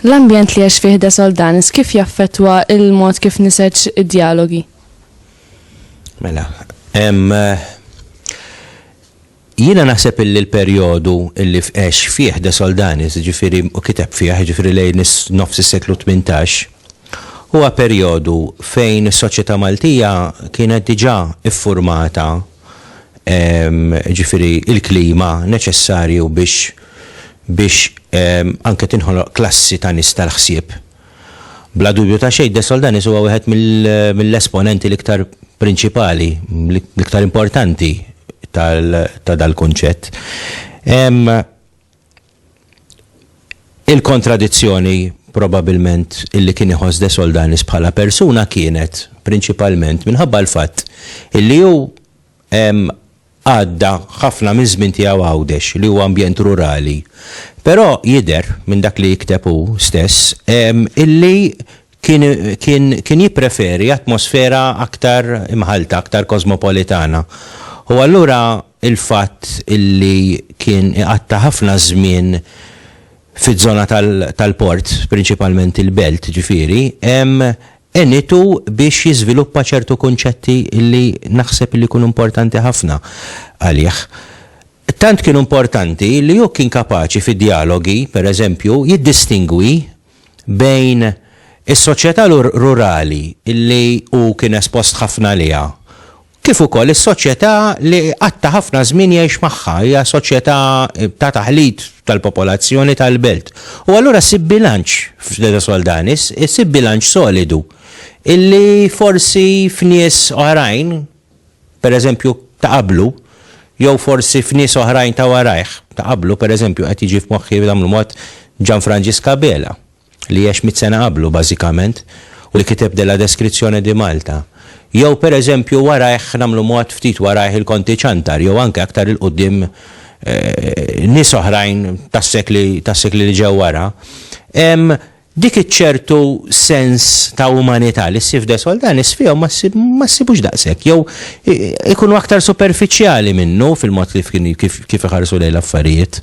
L-ambjent li għax fih da soldanis kif jaffetwa il-mod kif niseċ id-dialogi? Mela, em, eh, Jiena naħseb illi l-perjodu illi għex fih De Soldanis, jiġifieri, u kiteb fih, jiġifieri lejn nofs is-seklu tmintax, huwa perjodu fejn is-soċjetà Maltija kienet diġà ffurmata, jiġifieri l-klima neċessarju biex biex anke tinħoloq klassi ta' nies tal-ħsieb. Bla dubju ta' xejn, De Soldanis huwa wieħed mill-esponenti l-iktar prinċipali, l-iktar importanti ta' dal-kunċett. Hemm il-kontradizzjoni probabilment illi kien iħoss De Soldanis bħala persuna kienet prinċipalment minħabba l-fatt illi hu Għadda ħafna miż-żmien tiegħu Għawdex, li huwa ambjent rurali. Però jidher, minn dak li jikteb hu stess, illi kien jippreferi atmosfera aktar imħallta, aktar kosmopolitana. U allura l-fatt illi kien iqatta' ħafna żmien fiż-żona tal-port, prinċipalment il-belt, ġifieri, għenitu biex jiżviluppa ċertu kunċetti li naħseb li jkunu importanti ħafna għalih. Tant kienu importanti li hu kien kapaċi fi djalogi, per eżempju, jiddistingwi bejn is-soċjetà rurali li hu kien espost ħafna għaliha kif ukoll is-soċjetà li qatt ta' ħafna żmien jgħix magħha, hija soċjetà ta' taħlit tal-popolazzjoni tal-belt. U allura ssib bilanċ f'De Soldanis, issib bilanċ solidu illi forsi f'nies oħrajn, pereżempju ta' qablu, jew forsi f'nies oħrajn ta' warajh, ta' qablu pereżempju qed jiġi f'moħħi bl-mod Gianfrangisca Abela, li għex mitt sena qablu bażikament u li kiteb Della Descrizione di Malta. Jew pereżempju warajh, nagħmlu mod, ftit warajh il-Konti Ciantar jew anke aktar 'il quddiem nies oħrajn tas-sekli tas-sekli li ġew wara, hemm dik iċ-ċertu sens ta' umanità li ssib f'De Soldanis fihom ma ssib ma ssibux daqshekk jew ikunu aktar superfiċjali minnu fil-mod kif kif kif iħarsu lejn l-affarijiet.